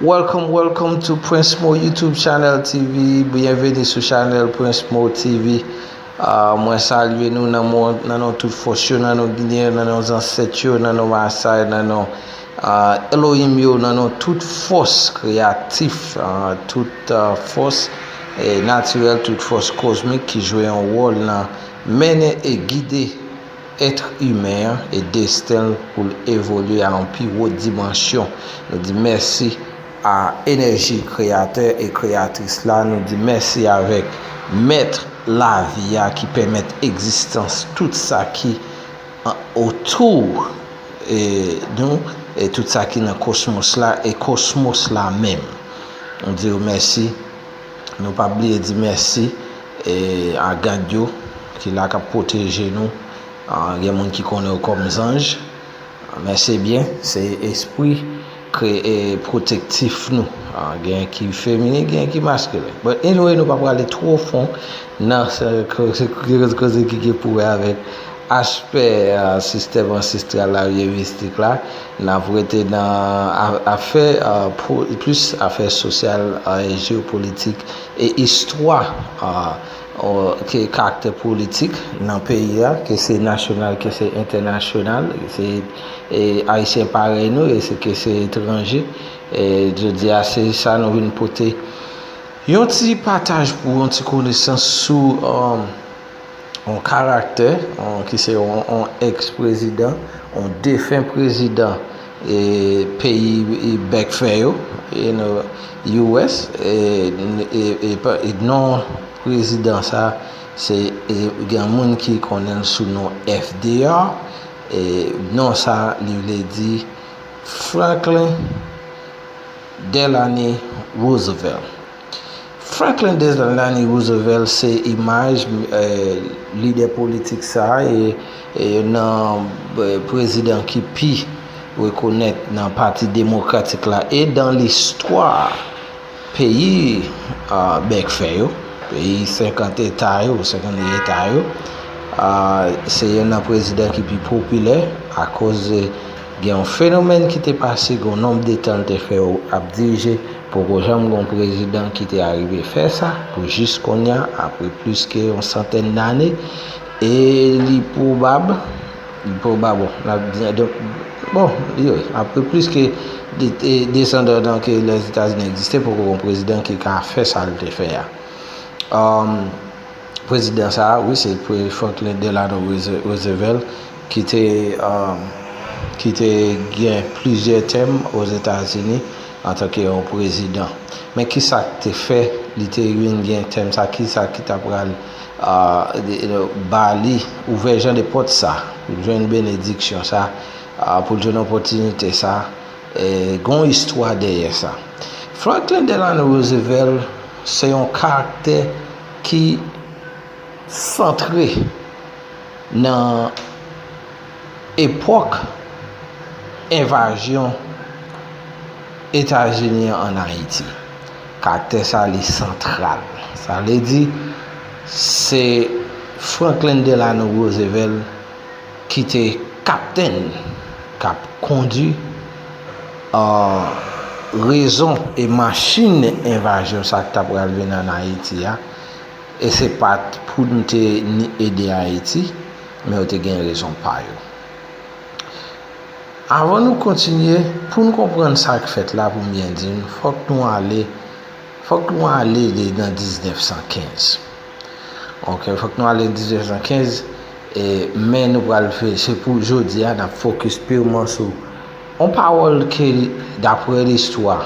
Welcome welcome to Prince Mo YouTube channel TV Byenveni sou channel Prince Mo TV Mwen salye nou nan mou nan nou tout fòs yo nan nou ginyen nan nou zansèt yo nan nou masay nan nou Elohim yo nan nou tout fòs kreyatif tout fòs natirèl tout fòs kozmik ki jwe yon wòl nan mennen e gide èt imen an e desten l pou l evolye a yon pi wo dimansyon. Nou di mèsi a enèji kreyatè e kreyatris la, nou di mèsi avèk mèt lavi a ki pèmèt egzistans tout sa ki otou nou e tout sa ki nan kosmos la e kosmos la menm. Nou di yo mèsi. Nou pa bliye di mèsi a gad yo ki la kap pwoteje nou. Gen moun ki konnen yo kòm zanj. Men se byen, se espri kreye pwotektif nou. Gen ki femini, gen ki maskilen. But anyway nou pa prale two fon nan koze ki gen pou wè avèk aspè sistèm ansestral la oubyen mistik la. N ap rete nan afè plis afè sosyal, jeopolitik e istwa ke karaktè politik nan peyi a ke se nasyonal ke se entènasyonal ke se ayisyen parèy nou e ke se etranje jodi a se sa nou vin pote yon ti pataj pou yon ti konesans sou yon karaktè ki se yon ex prezidan, yon defen prezidan e peyi bèk fè yo, you know, US, e non prezidan sa se gen moun ki konnen l sou non FDR, e non sa li vle di Franklin Delany Roosevelt. Franklin Delany Roosevelt se imaj lidè politik sa a e youn nan prezidan ki pi rekonèt nan pati demokratik la e dan listwa peyi bèk fè yo, peyi 50 eta yo, 52 eta yo. Se youn nan prezidan ki pi popilè akoz Gen yon fenomèn ki te pase gon nonb de tan l te fè yo ap dirije poko janm gon prezidan ki te arive fè sa pou jis konnya apre plis ke yon santèn dane e li pwobab li pwobab bon n ap di donk bon yo apre plis ke 230 an ke Lèzetazini egziste poko gon prezidan ki ka fè sa l te fè a. Prezidan sa a, wi, se Pre. Franklin Delano Roosevelt, ki te ki te gen plizyè tèm Ozetazini antanke yon prezidan. Men ki sa k te fè li te vin gen tèm sa a? Ki sa ki t apral ba li ouvè jan de pòt sa a pou l jwenn benediksyon sa a, pou l jwenn opòtinite sa a? Gen yon istwa dèyè sa. Franklin Delano Roosevelt se yon karaktè. ki santre nan epòk envazyon Etazini an ann Ayiti. Karaktè sa li santral. Sa vle di se Franklin Delano Roosevelt. Ki te kaptenn k ap kondi rezon e machin envazyon sa k ta pral vin ann Ayiti a. E se pa t pou n te ni ede Ayiti, men yo te gen rezon pa yo. Avan nou kontinye, pou n konprann sa k fèt la, pou m byen di n, fòk nou ale, fòk nou ale nan 1915. Ok fok nou ale 1915 e men nou pral fè se pou jodi a nap fokis pirman sou on pawòl ke dapre listwa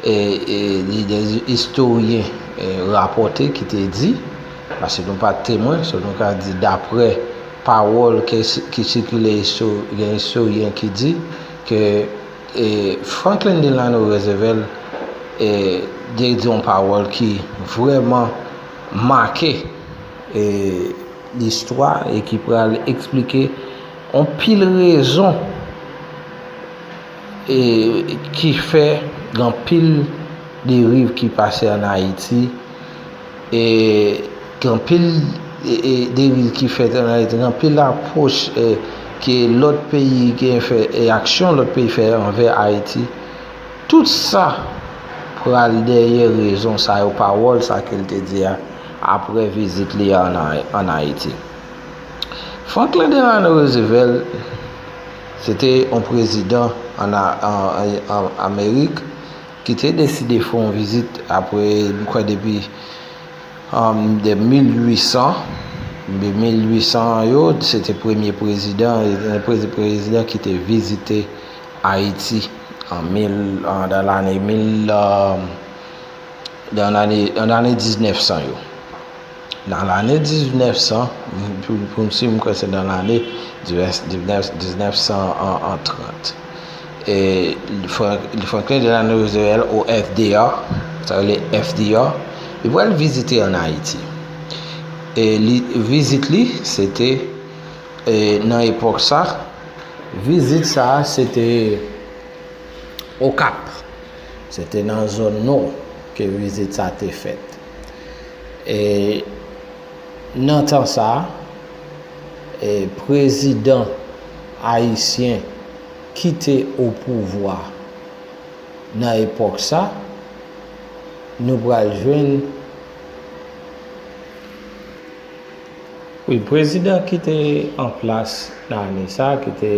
e e li de istoryen e rapòte ki te di pase nou pat temwen se nou ka di dapre pawòl ke ki sikile gen istoryen ki di ke Franklin Delano Roosevelt te di yon pawòl ki vrèman make listwa e ki pral eksplike anpil rezon ki fè gen anpil deriv ki pase an Ayiti. Gen anpil deriv ki fèt an Ayiti, gen anpil apwoch ke lòt peyi gen fè e aksyon lòt peyi fè anvè Ayiti. Tout sa pral dèyè rezon sa yo, pawòl sa ke l te di a apre vizit li a an Ayiti. Franklin Delano Roosevelt se te yon prezidan an Amerik. Ki te deside fè yon vizit apre m kwè depi an de 1800, de 1800 an yo, se te premye prezidan, yon premye prezidan ki te vizite Ayiti an mil, an dan lane mil, an dan lane 1900 yo. Nan lane 1900, pou m si m kwè se nan lane 1930, Franklin Delano Roosevelt ou FDR, sa rele FDR, li pral vizite an Ayiti. E li vizit li, se te nan epòk sa, vizit sa se te Okap. Se te nan zòn nò ke vizit sa te fèt. E nan tan sa, e prezidan ayisyen ki te opouvwa nan epòk sa, nou pral jwenn. Wi prezidan ki te an plas nan ane sa ki te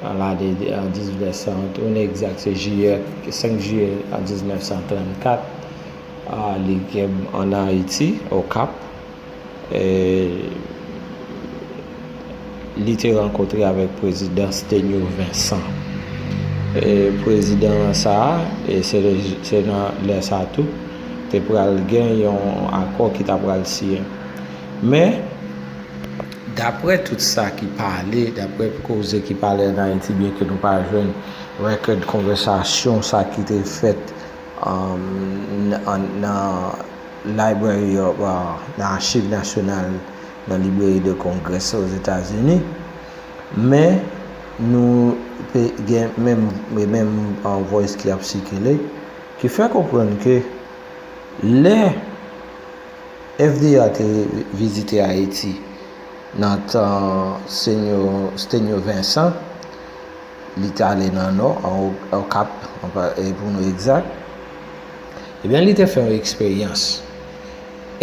an lane 1931 egzat se jiyè 5 jiyè 1934 li gen an ayiti okap e li te rankontre avèk prezidan Sténio Vincent. E prezidan sa a, e se se nan lè sa tou, te pral gen yon akò ki ta pral siyen. Men, daprè tout sa ki pale, daprè koze ki pale ann Ayiti, byen ke nou pa jwenn rekèd konvèsasyon sa ki te fèt nan Library of, nan Achiv Nasyonal, nan Librairie de Congrès Ozetazini, men nou te gen menm menm voice ki ap sikile ki fè konprann ke lè FDA te vizite Ayiti nan tan Senyo Stenyo Vensan, li te ale nan Nò, an Okap pou nou egzat, ebyen li te fè yon eksperyans.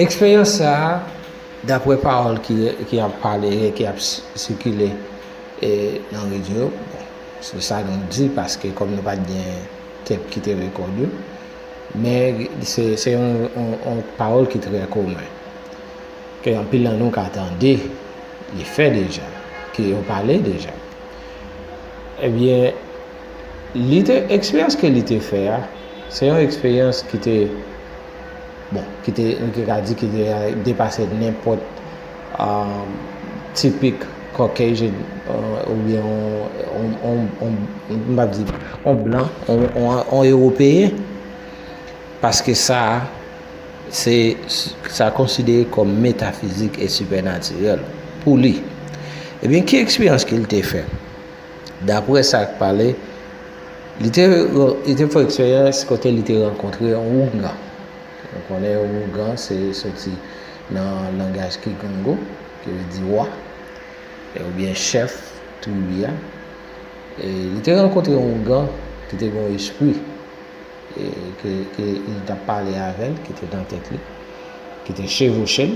Eksperyans sa a. Daprè pawòl ki ap pale e ki ap sikile nan radyo yo, bon, se sa nou di paske kòm nou pa t gen tep ki te rekòde yo, men se yon pawòl ki trè komen, ke anpil nan nou ka tande li fè deja, ke yo pale deja. Ebyen, li te, eksperyans ke li te fè a, se yon eksperyans ki te. Bon, ki te, nou te ka di ki te depase nenpòt tipik Caucasian oubyen yon, m pa di, yon blan, yon ewopeyen, paske sa, se, sa konsidere kòm metafizik e sipènatirèl pou li. Ebyen, ki eksperyans ke li te fè? Daprè sa k pale, Li te fè eksperyans kote li te rankontre yon ougan. Nou konnen yon ougan se soti nan langaj Kikongo, ki vle di wa, oubyen chèf tribi a. E li te rankontre yon ougan ki te gen yon espri, ke li t ap pale avè l, ki te nan tèt li, ki te chevouche l.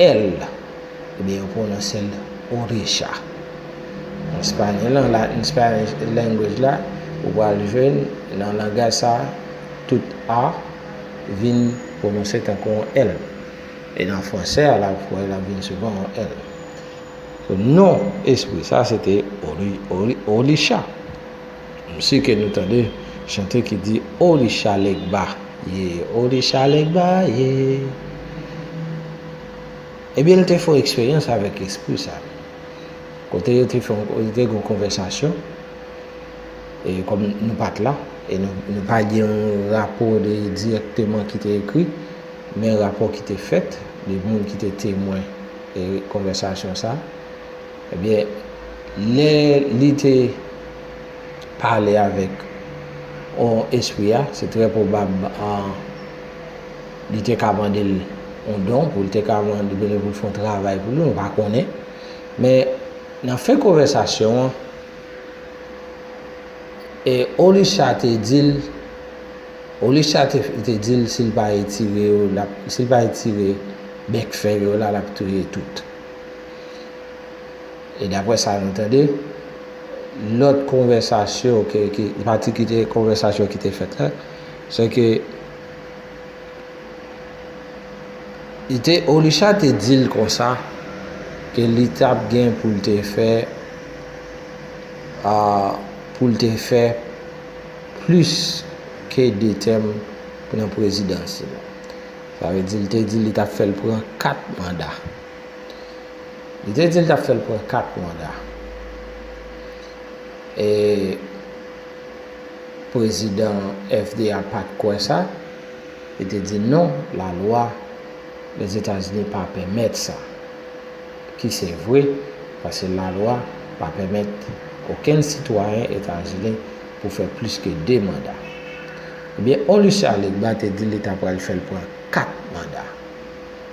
L, oubyen yo pwononse l Orecha. An espanyòl, nan la in Spanish language la, ou pral jwenn nan langaj sa a, tout a vin pwononse tankou yon èl. E nan fransè a la, ou pral wè l ap vin souvan yon èl. Non espri sa a se te Orisha. M si ke nou tande chante ki di Orisha Legba ye, Orisha Legba ye. Ebyen l te fè yon eksperyans avèk espri sa. Kote yo te fè yon te gen yon konvèsasyon e kòm nou pa t la e nou pa gen yon rapò de dirèkteman ki te ekri men rapò ki te fèt de moun ki te temwen e konvèsasyon sa. Ebyen, lè li te pale avèk yon espri a, se trè pwobab li te ka mande l yon don, pou l te ka mande pou l fè yon travay pou li, nou pa konnen. Men, nan fen konvèsasyon an, Olisha te di l, Olisha te di l si l pa etire yo, si l pa etire bèk fèy yo la, l ap touye tout. E dapre sa nou tande, lòt konvèsasyon ke, ki, pati ki te, konvèsasyon ki te fèt la, se ke, li te, Olisha te di l konsa, ke li t ap gen pou l te fè, a, pou l te fè plis ke 2 tèm nan prezidans li. Sa vle di, li te di li t ap fè l pran 4 manda. Li te di l t ap fè l pran kat manda. E prezidan FDA pa t kwè sa, li te di non, lalwa Lèzetazini pa pèmèt sa. Ki se vre, paske lalwa pa pèmèt okenn sitwayen Etazini pou fè plis ke 2 manda. Ebyen, Elucet Alegba te di li ta pral fè l pran 4 manda.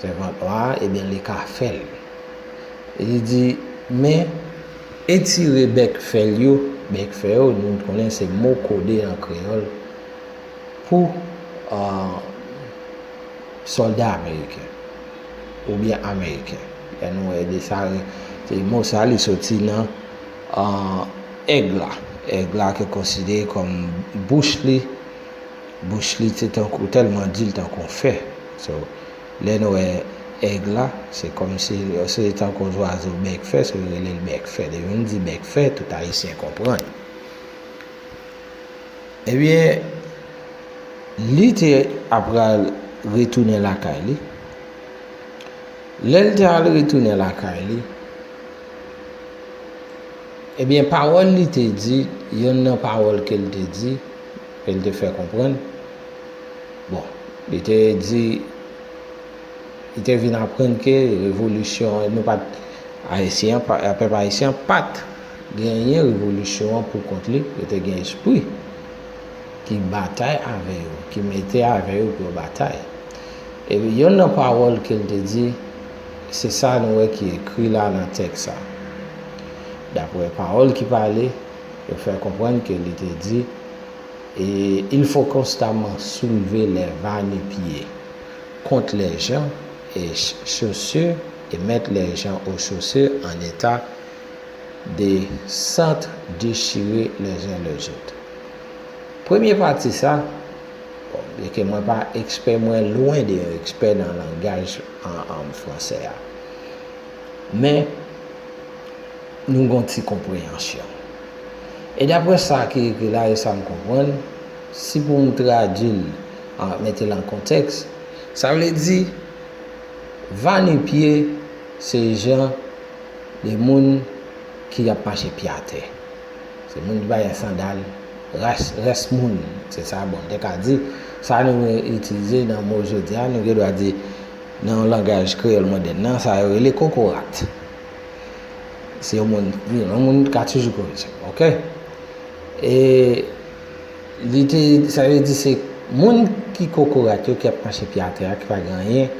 Sèvant la, Ebyen li ka fè l. Li di, Men, etire bèk fè l yo, bèk fè yo, nou konnen se mo kode an kreyòl pou sòlda ameriken oubyen ameriken. Lè nou wè de sa, se mo sa li soti nan èg la. Èg la ki konsidere kòm bouch li. Bouch li te tankou tèlman di l tankou yon fè so lè n wè èg la se kòmsi se tankou yon zwazo bèk fè so yo rele l bèk fè depi m di bèk fè tout ayisyen konprann ebyen li te apral retounen lakay li lè l te al retounen lakay li ebyen pawòl li te di yonn nan pawòl ke l te di. E li te fè konprann, bon, li te di, li te vin aprann ke revolisyon an, nou pat, Ayisyen an, pèp Ayisyen an pat genyen revolisyon an pou kont li, yo te gen espri ki batay avè yo, ki mete avè yo pou yo batay. E yonn nan pawòl ke li te di, se sa nou wè ki ekri la nan tèks sa. Dapre pawòl ki pale. Yo fè konprann ke li te di, E il fò konstaman soulve lè va nu pye, kont lè jan, e chossu, e mèt lè jan o chossu an eta de sant dechire lè zun lè zout. Premye pati sa, bon, byen ke mwen pa ekspè, mwen lwen de yon ekspè nan langaj an fransè a. Men, nou gen yon ti konpreyansyon. E dapre sa ki ekri la e sa m konprann, si pou m tradui l, mete l an kontèks, sa vle di, va nu pye se jan de moun ki ap mache pye atè. Se moun ki pa gen sandal, rès moun, se sa bon m te ka di. Sa nou itilize nan mo jodi a, nou gen dwa di Nan yon langaj kreyòl modèn nan, sa yo rele kokorat. Si yon moun, wi, yon moun ka toujou korije m, ok? E li te, sa vle di se moun ki kokorat yo, ki ap mache pye atè a, ki pa gen anyen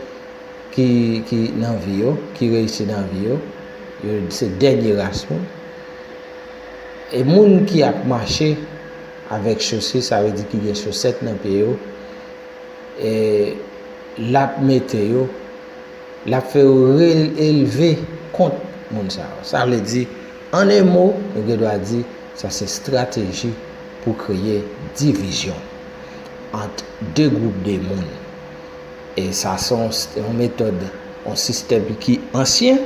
ki, ki nan vi yo, ki reyisi nan vi yo, yo se dènye ras moun. E moun ki ap mache avèk chosir, sa vle di ki gen chosèt nan pye yo, l ap mete yo, l ap fè yo releve kont moun sa yo. Sa vle di, an en mo, nou gen dwa di sa se estrateji pou kreye divizyon ant de gwoup de moun. E sa se yon metòd, yon sistèm ki ansyen,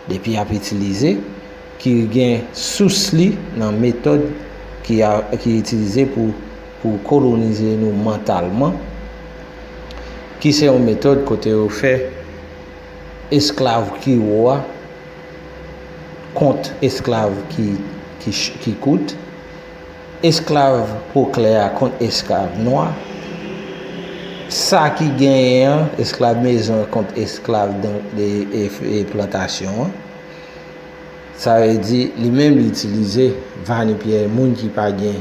depi y ap itilize, ki gen sous li nan metòd ki itilize pou. Pou kolonize nou mantalman, ki se yon metòd kote yo fè esklav ki wo a kont esklav ki kout, esklav po klè a kont esklav nwa, sa ki genyen an, esklav mezon an kont esklav plantasyon an. Sa vle di, li menm li itilize vanipye moun ki pa gen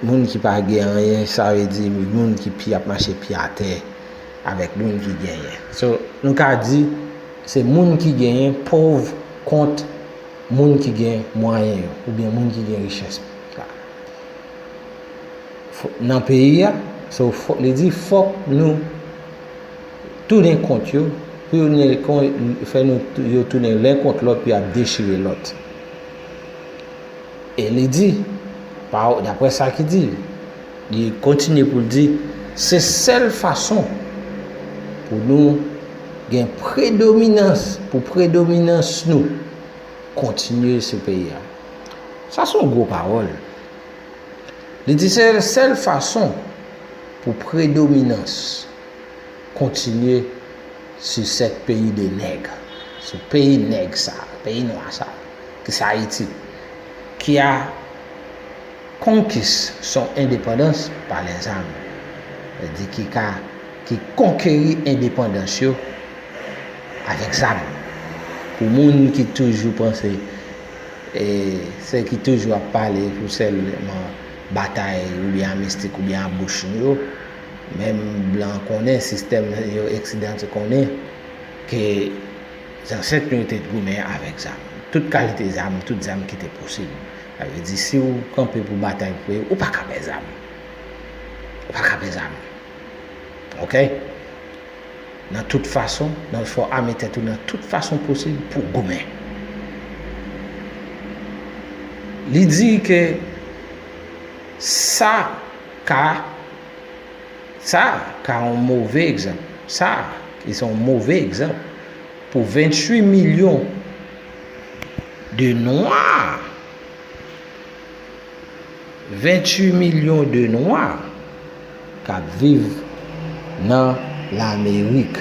Moun ki pa gen anyen sa vle di moun ki pi ap mache pye atè avèk moun ki genyen. So nou ka di se moun ki genyen pov kont moun ki gen mwayen yo oubyen moun ki gen richès la nan peyi a. So li di fòk nou tounen kont yo pou yo fè nou yo tounen len kont lòt pou y ap dechire lòt. E li di, paw, dapre sa ki di, li kontinye pou l di, se sèl fason pou nou gen predominans, pou predominans nou kontinye sou peyi a. Sa son gwo pawòl. Li di se sèl fason pou predominans kontinye sou sèt peyi de nèg, sou peyi nèg sa, peyi nwa sa. ki se Ayiti, ki a konkis son endepandans pa lè zam, vle di ki ka, ki konkeri endepandans yo avèk zam. Pou moun ki toujou panse, e se ki toujou ap pale pou sèlman batay oubyen a mistik oubyen a bouch nou yo, menm blan konnen, sistèm yo eksidan te konnen ke. Zansèt nou yo te goumen avèk zam. Tout kalite zam, tout zam ki te posib. Sa vle di si ou kanpe pou batay pou peyi w, ou pa ka pè zam. Ou pa ka pè zam. Ok? Nan tout fason, nan fè w ame tèt ou nan tout fason posib pou w goumen. Li di ke sa ka. Sa ka yon move egzanp. Sa ki se yon move egzanp pou 28 milyon de nwa. 28 milyon de nwa k ap viv nan Lamerik.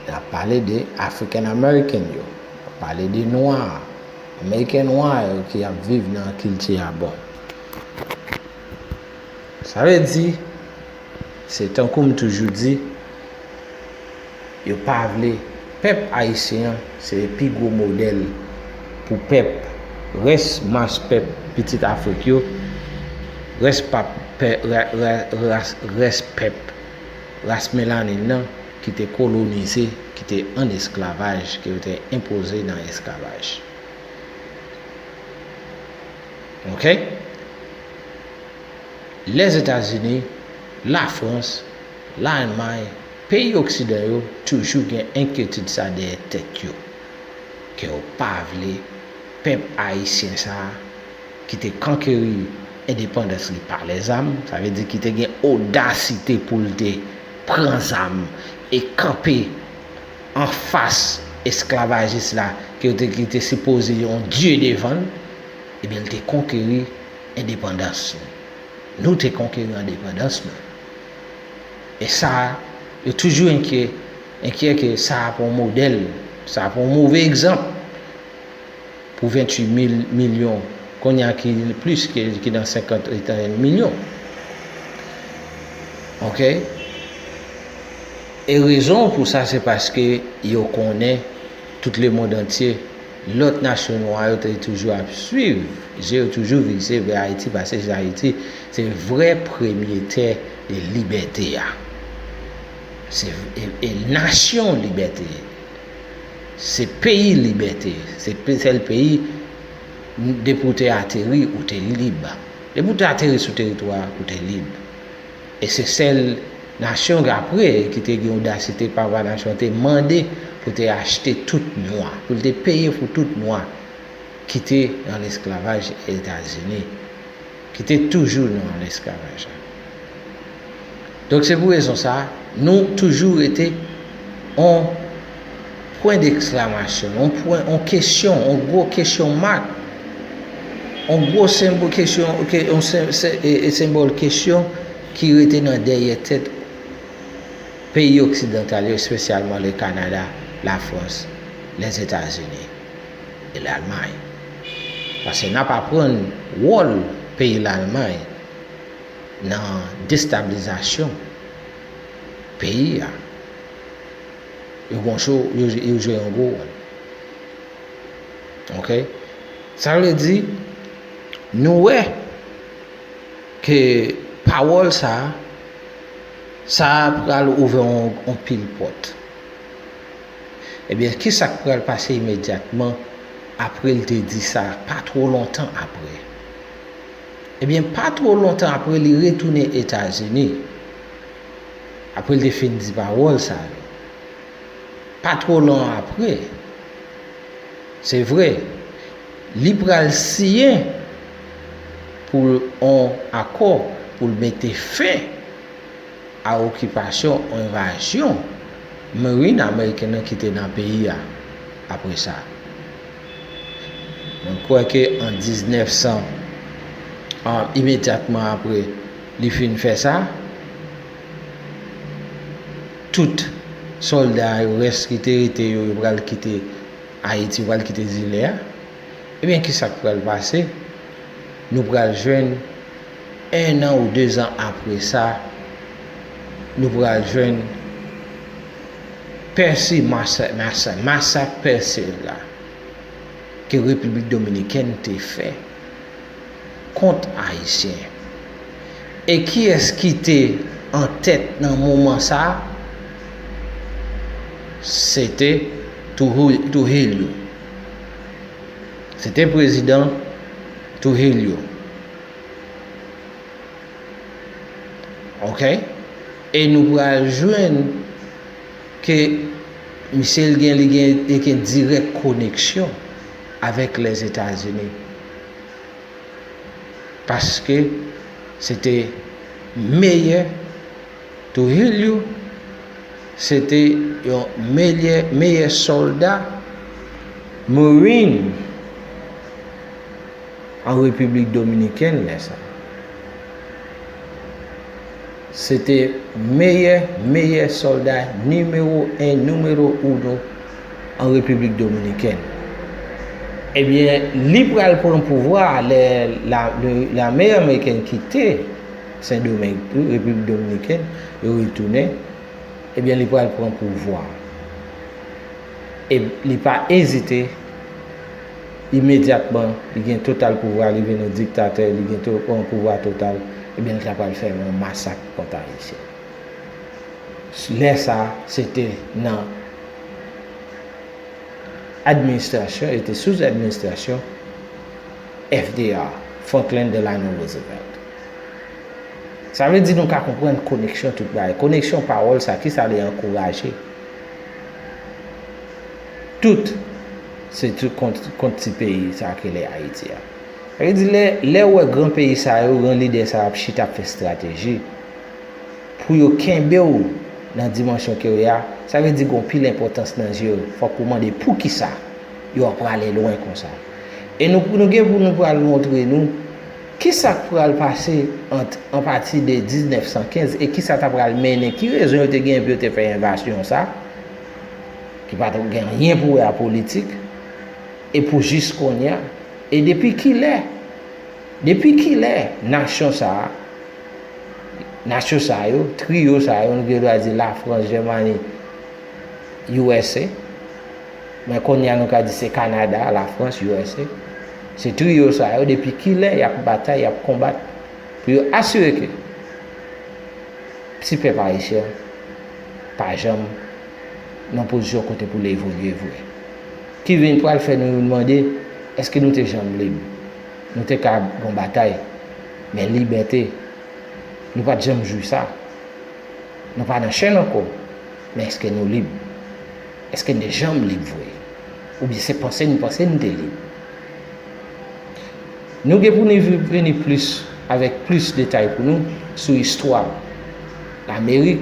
N ap pale de African American yo. N ap pale de nwa. Ameriken nwa yo ki ap viv nan kilti a bon. Sa vle di, se tankou m toujou di, yo pa vle pèp ayisyen an se pi gwo modèl pou pèp, rès mas pèp pitit Afrik yo, rès pap, rès pèp ras melanin nan ki te kolonize, ki te ann esklavaj, ke yo te enpoze nan esklavaj. Ok Lèzetazini, Lafrans, Lalmay, peyi oksidan yo toujou gen enkyetid sa dèyè tèt yo ke yo pa vle pèp ayisyen sa ki te kankeri endepandans li pa lèzam, sa vle di ki te gen odasite pou l te pran zam e kanpe anfas esklavajis la ke yo te ki te sipoze yon dye devan l, ebyen l te konkeri endepandans nou. Nou te konkeri endepandans nou. E sa, yo toujou enkye, enkyè ke sa pa yon modèl, sa pa yon move egzanp. Pou 28 mil milyon kounye a ki plis ke ki nan 50 etan milyon. Ok. E rezon pou sa se paske yo konnen tout le mond antye lòt nasyon nwa yo te toujou ap swiv je yo toujou vize vè Ayiti pase se Ayiti se vrè premye tè de libète a. Se e nasyon libète. Se peyi libète. Se sèl peyi depi ou te ateri ou te lib. Depi ou te ateri sou teritwa a ou te lib. E se sèl nasyon k apre ki te gen odasite papa nasyon an te mande pou te achte tout nwa, pou l te peye pou tout nwa ki te nan lesklavaj Etazini. Ki te toujou nan lesklavaj la. Donk se pou rezon sa a, nou toujou rete on pwen deksklamasyon, on pwen, on kesyon, on gwo kesyon mak, on gwo senbol kesyon, on senbol kesyon ki rete nan dèyè tèt peyi oksidantal yo, espesyalman le Kanada, la Frans, Lèzetazini. e Lalmay. Pase n ap aprann wòl peyi Lalmay nan destablizasyon peyi a. Yo gon cho, yo jwe yon gwo wòl. Ok? Sa vle di, nou wè ke pawòl sa a, sa a pral ouvè yon pil pòt. Ebyen, ki sa k pral pase imedyatman apre l te di sa? Pa two lontan apre. Ebyen, pa two lontan apre, li retounen Etazini. Apre l te fin di pawòl sa yo. Pa two lon apre. Se vre, li pral siyen pou l on akò pou l mete fen. a okipasyon ou envazyon Marine Ameriken nan ki te nan peyi a apre sa. Mwen kwè ke an 1900, an imedyatman apre li fin fè sa, tout sòlda yo, rès ki te rete yo, yo pral kite Ayiti, yo pral kite zile a. Ebyen, ki sa k pral pase? Nou pral jwenn. 1 an ou 2 zan apre sa nou pral jwenn Percy Marssaint, masak Percy la ke Repiblik Dominikèn te fè kont Ayisyen. E kiyès ki te an tèt nan moman sa? Se te Trujillo. Se te prezidan Trujillo. Ok e nou pral jwenn ke misye l gen li gen li gen dirèk koneksyon avèk Lèzetazini. Paske se te meyè Trujillo se te yon meyè meyè sòlda Marine An Repiblik Dominikèn lè sa a, se te meyè meyè sòlda nimewo 1 numero uno an Repiblik Dominikèn. Ebyen li pral pran pouvwa a lè lame amerikèn kite Sendomeng, Repiblik Dominikèn, yo retounen, ebyen li pral pran pouvwa a. E li pa ezite. Imedyatman, li gen total pouvwa, li vin yon diktatè, li gen to, yon pouvwa total, ebyen li ta pral fè yon masak kont Ayisyen. Lè sa a, se te nan administrasyon, e te sou administrasyon FDR, Franklin Delano Roosevelt. Sa vle di nou ka konprann koneksyon tout bagay. Koneksyon pawòl sa, ki sa li ankouraje? Tout Se tout kont kont ti peyi sa a ki rele Ayiti a. Sa vle di lè lè ou wè gran peyi sa yo, gran lidè sa yo ap chita ap fè estrateji pou yo kenbe w nan dimansyon ke ou ye a, sa vle di gen w pil enpòtans nan zye yo. Fòk ou mande poukisa yo ap prale lwen konsa. E nou nou gen pou nou pral montre nou ki sa k pral pase ant an pati de 1915 e ki sa ta pral mennen, ki rezon yo te genyen pou yo te fè envasyon sa. Ki pa t gen anyen pou wè a politik, e pou jis kounye a, e depi kilè, depi kilè nasyon sa a, nasyon sa yo, triyo sa yo, nou gen dwa di Lafrans, Jèmani, usa, men kounye a nou ka di se Kanada, Lafrans, usa, se triyo sa yo, depi kilè y ap batay, y ap konbat pou yo asire ke ti pèp ayisyen an pa janm nan pozisyon kote pou l evolye vre. Ki vin pral fè nou youn mande, èske nou te janm lib? Nou te ka ap gon batay, men libète, nou pa t janm jwi sa. Nou pa nan chenn ankò, men èske nou lib? Èske n te janm lib vre? Oubyen se panse n panse n te lib? Nou gen pou nou vini plis avèk plis detay pou nou sou istwa Lamerik,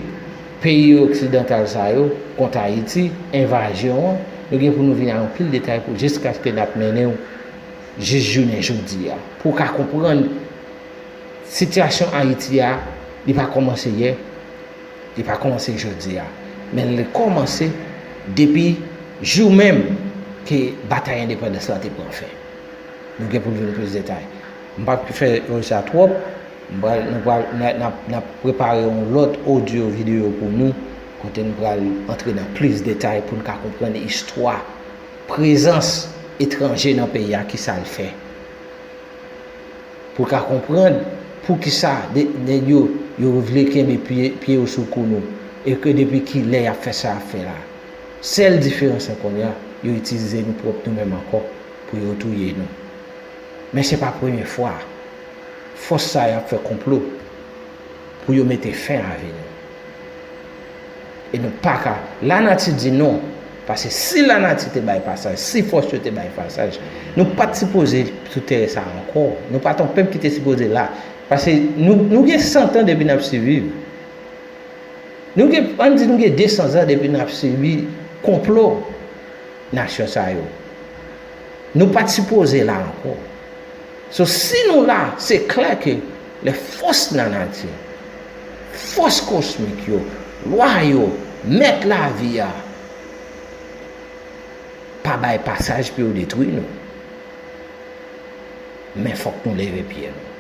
Peyi oksidantal sa yo kont Ayiti, envazyon an, nou gen pou nou vini a yon pil detay pou jiskaske nap mennen w jis jounen jodi a. Pou w ka konprann sitiyasyon Ayiti a, li pa kòmanse yè, li pa kòmanse jodi a, men li kòmanse depi jou menm ke batay endepandans la te pran fen. Nou gen pou nou vini plis detay. M pa k fè yon sa twòp, m pral nou pral n ap prepare yon lòt odyo videyo pou nou kote n pral antre nan plis detay pou n ka konprann istwa prezans etranje nan peyi a ki sa l fè pou ka konprann pou ki sa nèg yo yo vle kenbe pye yo sou kou nou e ke depi ki lè y ap fè sa y ap fè la sèl diferans lan kounye a yo itilize nou pwòp nou menm ankò pou yo touye nou. Men se pa premye fwa fòs sa yo ap fè konplo pou yo mete fen a vi nou. E nou pa ka, lanati di non, pase si lanati te bay pasaj, si fòs yo te bay pasaj, nou pat sipoze sou tè sa ankò, nou pat yon pèp ki te sipoze la, pase nou gen santan depi nap siviv, nou gen, ann di nou gen 200 zan depi nap sibi konplo nasyon sa yo. Nou pat sipoze la ankò. So si nou la, se klè ke lè fòs nan nati, fòs kosmik yo, lwa yo, mèt lavi a, pa bay pasaj pou yo detwi nou. Men fòk nou leve pye nou.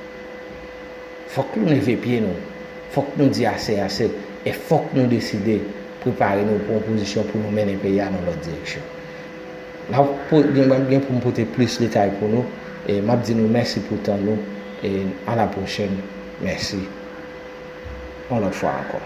Fòk nou leve pye nou. Fòk nou di ase ase. E fòk nou deside prepare nou pou yon pozisyon pou nou mennen peyi a nan lòt direksyon. Mwen gen pou m pote plis detay pou nou e map di nou mèsi pou tan nou e a la pwochèn mèsi yon lòt fwa ankò.